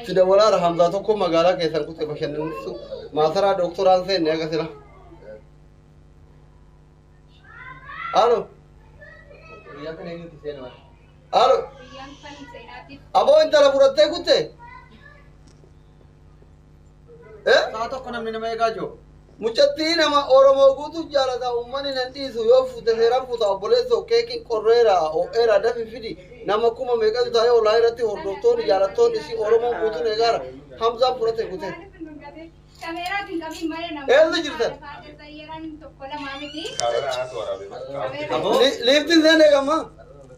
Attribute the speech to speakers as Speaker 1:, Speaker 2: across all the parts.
Speaker 1: Itti dawalaara Hamzaa tokko magaalaa keessan kutee bashannansisu maasaraa dooktoraan seenne aga sila. Alo. Alo. Aboo intala fudhattee kutte?
Speaker 2: Eh? Sa'a tokko namni nama eegaa jiru. Mucattii nama
Speaker 1: Oromoo guutuu jaalata uummanni nan dhiisu yoo fuute seeraan fuuta obboleessoo keekiin qorreera ho'eera dafi fidi nama kuma meeqatu taa'ee olaa irratti hordoftoonni jaalattoonni si Oromoo guutuun eegaara Hamzaan fudhate kute. Eessa jirtan? Kaamera haatu waraabee. Liiftiin seenee gammaa.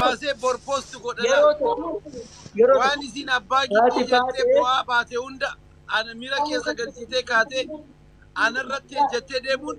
Speaker 2: baasee bor post godhana Yeroo tokko yeroo waan tokko isiin abbaa haati gidduu jettee baatee boo'aa baate hunda ana miira keessa galchitee kaatee anarratti ejjettee deemuun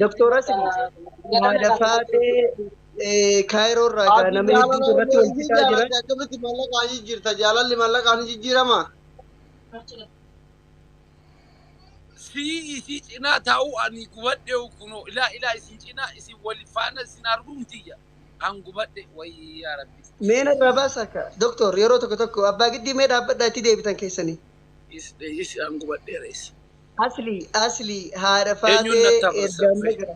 Speaker 3: Doktora Sidi, Madafaatee Kaayiroo irraa gaa nama hedduutu irratti wal fixaa jira. Akkamitti maallaqaan
Speaker 1: jijjiirta? Jaalalli maallaqaan ni jijjiirama?
Speaker 2: Sii isii cinaa taa'uu ani gubadhe kunoo ilaa ilaa isin cinaa isin wal faana isin arguun tiyya an gubadhe wayii yaa rabbi. Mee narraa baasa
Speaker 3: akka doktor yeroo tokko tokko abbaa giddii mee dhaabbadhaa itti deebitan keessanii. Is is
Speaker 2: an gubadheera is. Asli Asli
Speaker 3: haadha Eenyuun faatee natti hafa erga amma sirfee. gara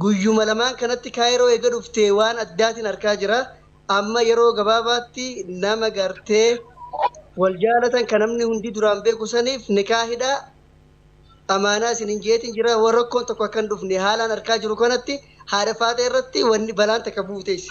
Speaker 3: guyyuma lamaan kanatti kaayiroo eega dhuftee waan addaatin arkaa jira amma yeroo gabaabaatti nama gartee wal jaalatan ka namni hundi duraan beeku saniif nikaa hidhaa amaanaa isin hin jeetin jira wa rakkoon tokko akka hin dhufne haalaan arkaa jiru kanatti haadha faatee irratti wanni balaan takka buuteessi.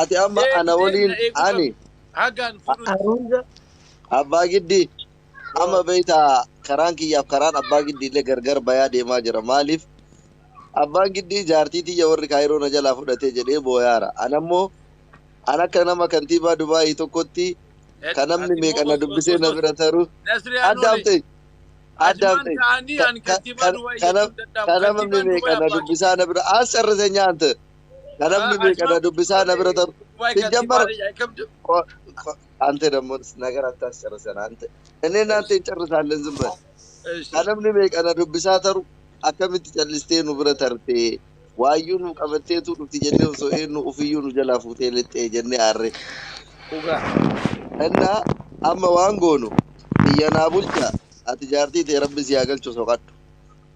Speaker 4: Ati amma Deebi ana deebi waliin na eeguu ani qabdu. Hagaan fuudhutti. Haruuza abbaa giddii amma Yoo. beekta karaan kiyyaaf karaan abbaa giddii illee gargar bayaa deemaa jira maaliif abbaan giddii jaartii tiyya warri kaayiroo na jalaa fudhatee jedhee booyaara anammoo an akka nama kantiibaa dubaayii tokkotti Ed- kan namni ati meeqa immoo na os- dubbisee os- na os- bira taru Nasree adda Anoole. haftee adda Ajumaan haftee ta'anii ka- ani ka- kantiibaa ka- Dubaayii kana jechuun danda'amu. ka namni Kantiibaan meeqa Dubaayii na abbaa giddii. dubbisaa na bira as carrasee nyaante Na namni Ah, beeka na Ashaam. dubbisaa na bira taru. Waa Si gatii jammar maalii yaa qabdu. ko- ko- ante dammo nagar attas carrisan ante. Inni naante hin carrisaalleen zim bari. Ka namni beeka na dubbisaa taru akkamitti callistee nu bira tartee waayyuu nu qabatteetu dhufti jennee osoo eenyu ofiyyuu nu jalaa fuutee lixxee jennee aarree. Dhugaa. Inna amma waan goonu biyya naa bulcha ati jaartii tee rabbi si haa galchu soqadhu.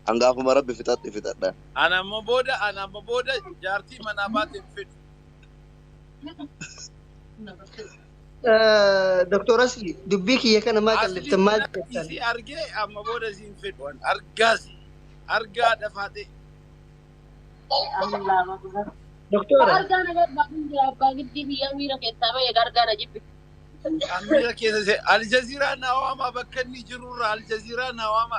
Speaker 4: An gaafuma rabbi fixadhe fixadha. An amma booda
Speaker 2: an amma booda jaartii manaa baate hin fedhu.
Speaker 3: Doktor Asli dubbii kiyya kana maa Asli qalliftan maal kana jettan? isii argee amma
Speaker 2: booda isii hin fedhu an argaas argaa dhafaate.
Speaker 3: Doktora Argaa na barba
Speaker 5: hundee abbaa giddii biyyaa miira keessaa ba'e argaa na jibbi. Amira
Speaker 2: keessa se Aljaziraa na waama bakka inni jirurra Aljaziraa na waama.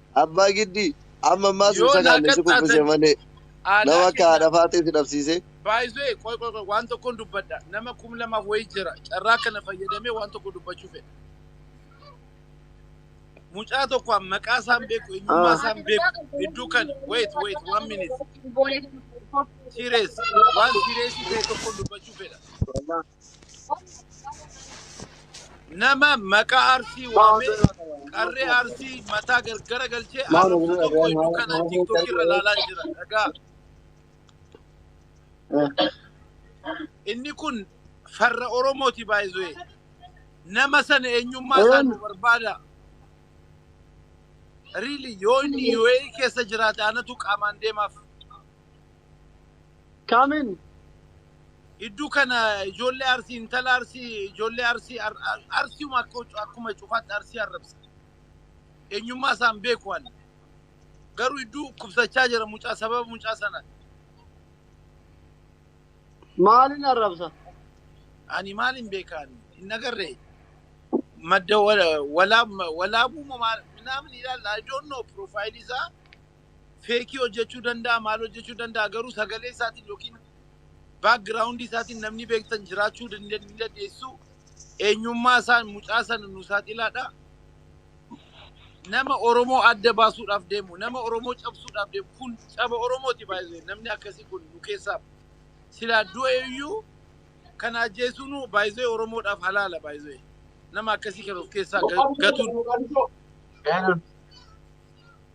Speaker 4: Abbaa Giddii! Amma ammaas hin Yoo naa sakaanne si kuffise qaxxaatan malee. Nama aadaa akka keenyaa haadha faaxee si dhabsiisee. By the way, qoy qoy
Speaker 2: qoy waan tokkon dubbadha. Nama kum lamaaf wayii jira. Carraa kana fayyadamee waan tokko dubbachuu fedha. Mucaa tokko an maqaa isaan beeku, eenyummaa Ah. isaan beeku. Hedduu kan wait wait one minute. Serious. Waan serious ta'e tokkon dubbachuu fedha. nama maqaa arsii waamee qarree arsii mataa gargara galchee arrabsu tokko iyyuu kana tiktok irra ilaalaa jira dhagaa inni kun farra oromooti baay'ee nama sana eenyummaa isaa nu barbaada riili yoo inni UAE keessa jiraate anatu qaamaan deemaaf
Speaker 3: Come in.
Speaker 2: Iddu kana ijoollee Arsii intala Arsii ijoollee Arsii ar- ar- Arsiuma akka ucu- akkuma cufaatti Arsii arrabsa. Eenyummaa isaan beeku ani. Garuu idduu dhukkubsachaa jira mucaa sababa mucaa sana.
Speaker 3: Maalin arrabsa? Ani
Speaker 2: maalin beeka ani hin agarre. Madda wala- walaa- walaabuu moo maal minaamin ilaalla. I don't know profaayilii isaa. feekii hojjechuu danda'a maal hojjechuu danda'a garuu sagalee isaatiin yookiin background isaatiin namni beektan jiraachuu hin dandeessu eenyummaa isaan mucaa sana nu saaxilaadha nama Oromoo adda baasuudhaaf deemu nama Oromoo cabsuudhaaf deemu kun caba Oromooti baay'ee namni akkasii kun nu keessaa silaa du'e iyyuu kana ajjeesuun baay'ee Oromoodhaaf halaala baay'ee nama akkasii kan of keessaa ga- gatuun Eenyuun?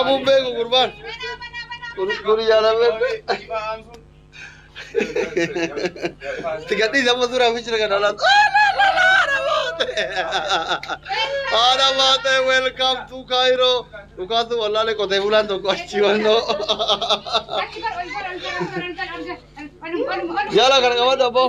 Speaker 1: Abu beeku gurbaan. Kun kun yaalamee. Itti gadhiisa amma suuraa fi shira kana laatu. Haadha baatee welcome to Cairo. Dhugaatu wallaalee qotee bulaan tokko achi wannoo. Jala kana qabadhu abboo.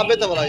Speaker 1: Abbetta balaa.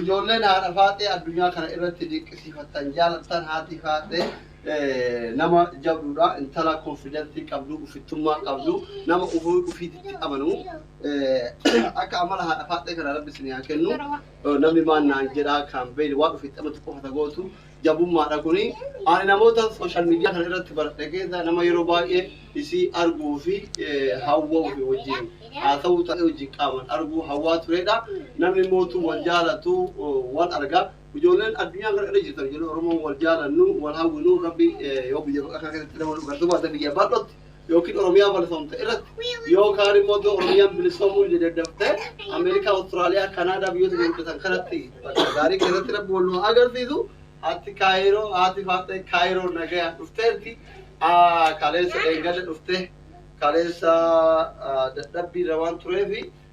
Speaker 1: Ijoolleen haadha faaxee addunyaa kana irratti dinqisiifattan jaalattan haati faaxee nama jabduudha intala konfidantii qabdu ufittummaa qabdu nama ufii ufiititti amanu akka amala haadha faaxee kana rabbi isin haa kennu namni maan naan jedhaa kan beeyne waan ufitti amatu qofa tagootu jabummaadha kuni. Ani namoota social media kana irratti baradhe keessa nama yeroo baay'ee isii arguu fi hawwau fi wajjin haasa'uu ta'ee wajjin qaaman arguu hawwaa tureedha. Namni mootuu wal jaalatu wal arga. Ijoolleen addunyaa kana irra jirtan ijoolleen Oromoo wal jaalannu wal hawwinu rabbi yoo biyya bal'aa kana keessatti nama nu gartu baate biyya bal'otti yookiin Oromiyaa balfamte irratti yookaan immoo iddoo Oromiyaan bilisoomuu hin daddaftee Ameerikaa, Awustiraaliyaa, Kanaadaa biyyoota gurguddatan kanatti bakka gaarii keessatti rabbi wal nu agarsiisu haati kaayiroo haati faaxee kaayiroo nagayaan dhufteerti kaleessa eeggata dhuftee kaleessa dadhabbii irra waan tureefi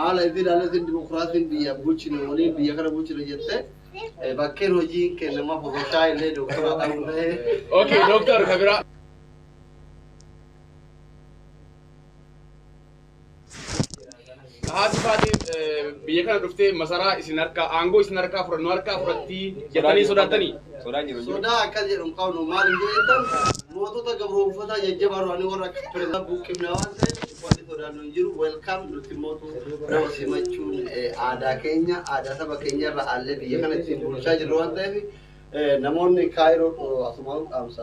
Speaker 1: Haala itti ilaalletti dimokiraasiin biyya bulchine waliin biyya kana bulchina jettee bakkeen hojiin kennamaaf osoo shaayii illee dooktora ta'uu ta'ee. Okay, dooktor
Speaker 2: ka biraa. Haati baatee biyya kana dhuftee masaraa isin harkaa aangoo isin harkaa fudhannu harkaa fudhattii jettanii sodaattanii? Sodaa akkas
Speaker 1: jedhu hin qabnu. Maaliif yoo jettan mootota gabroomfataa jajjabaa duraanii warra akka pirezidaantii buqqifne waan ta'eef wanti sodaannu hin jiru. Welcome nuti immootu nama simachuun aadaa keenya aadaa saba keenya irra aallee biyya kana ittiin bulchaa jirru waan ta'eef namoonni Kaayiroo asumaan dhaamsa.